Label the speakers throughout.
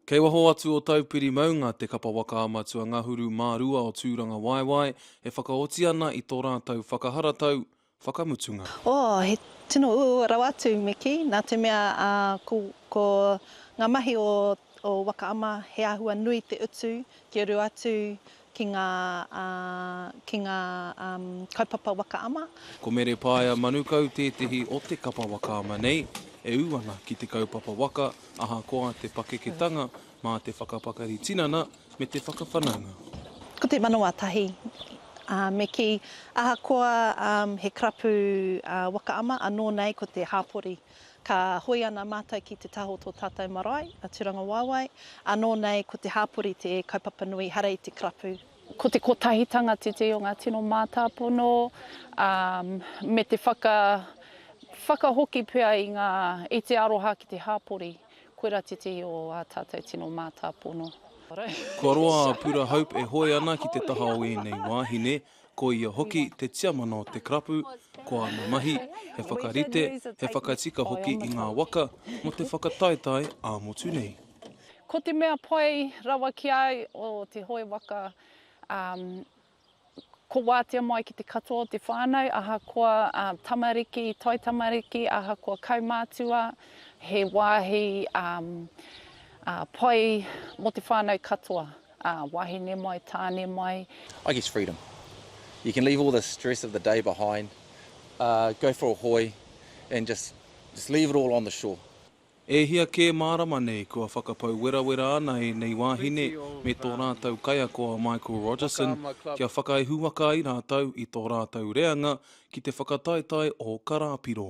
Speaker 1: Kei waho atu o Taupiri maunga te kapa waka a Matua Ngahuru mā rua o Tūrangawaewae e whakaoti ana i tō rātou whakaharatau whakamutunga. Oh, he
Speaker 2: tino uaua rawa atu me kī, nā te mea ko ngā mahi o Waka Ama he āhua nui te utu kia rua atu ki ngā, ki ngā kaupapa waka ama. Ko Mere Paea
Speaker 1: Manukau tētehi o te kapa waka ama nei, e ū ana ki te kaupapa waka ahakoa te pakeketanga mā te whakapakari tinana me te whakawhanaunga. Ko te manawa
Speaker 2: tahi, ā, me kī, ahakoa he karapu waka ama, anō nei ko te hāpori. Ka hoe ana mātou ki te taha o tō tātou marae, a Turangawaewae, ānō nei ko te hāpori te kaupapa nui hara i te karapu. Ko te kotahitanga
Speaker 3: tētehi o ngā tino mātāpono, ā, me te whaka, whakahoki pea i ngā, i te aroha ki te hāpori, koirā tētehi o ā tātou tino mātāpono. Kua
Speaker 1: roa a Pura Hope e hoe ana ki te taha o ēnei wāhine, Ko ia hoki te tiamana o te karapu, ko ana mahi, he whakarite, he whakatika hoki i ngā waka mō te whakataetae ā-motu nei. Ko te mea
Speaker 3: pai rawa ki a au o te hoe waka, ko wātea mai ki te katoa o te whānau, ahakoa tamariki, taitamariki, ahakoa kaumātua, he wāhi pai mō te whānau katoa. Ā, wahine mai, tāne mai. I guess freedom.
Speaker 4: You can leave all the stress of the day behind, go for a hoi and just just leave it all on the shore. E hia
Speaker 1: kē mārama nei kua whakapau werawera ana ēnei wāhine me tō rātou kaiako a Michael Rogerson kia whakaihuwaka ai rātou i tō rātou reanga ki te whakataetae o Karāpiro.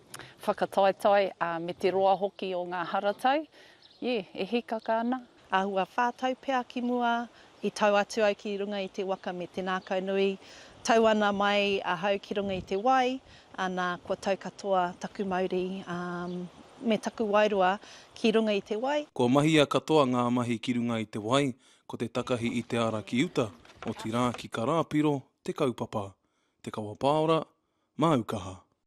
Speaker 3: Whakataetae, ā, me te roa hoki o ngā haratau, ē, e hīkaka ana. Āhua whā tau
Speaker 2: pea ki mua, i tau atu au ki runga i te waka me te nākau nui, tau ana mai ahau ki runga i te wai, ā, nā, kua tau katoa taku mauri, ā, me taku wairua ki runga i te wai. Kua mahia katoa
Speaker 1: ngā mahi ki runga i te wai, ko te takahi i te ara ki uta, otirā ki Karāpiro, te kaupapa, te kawapāora, māukaha.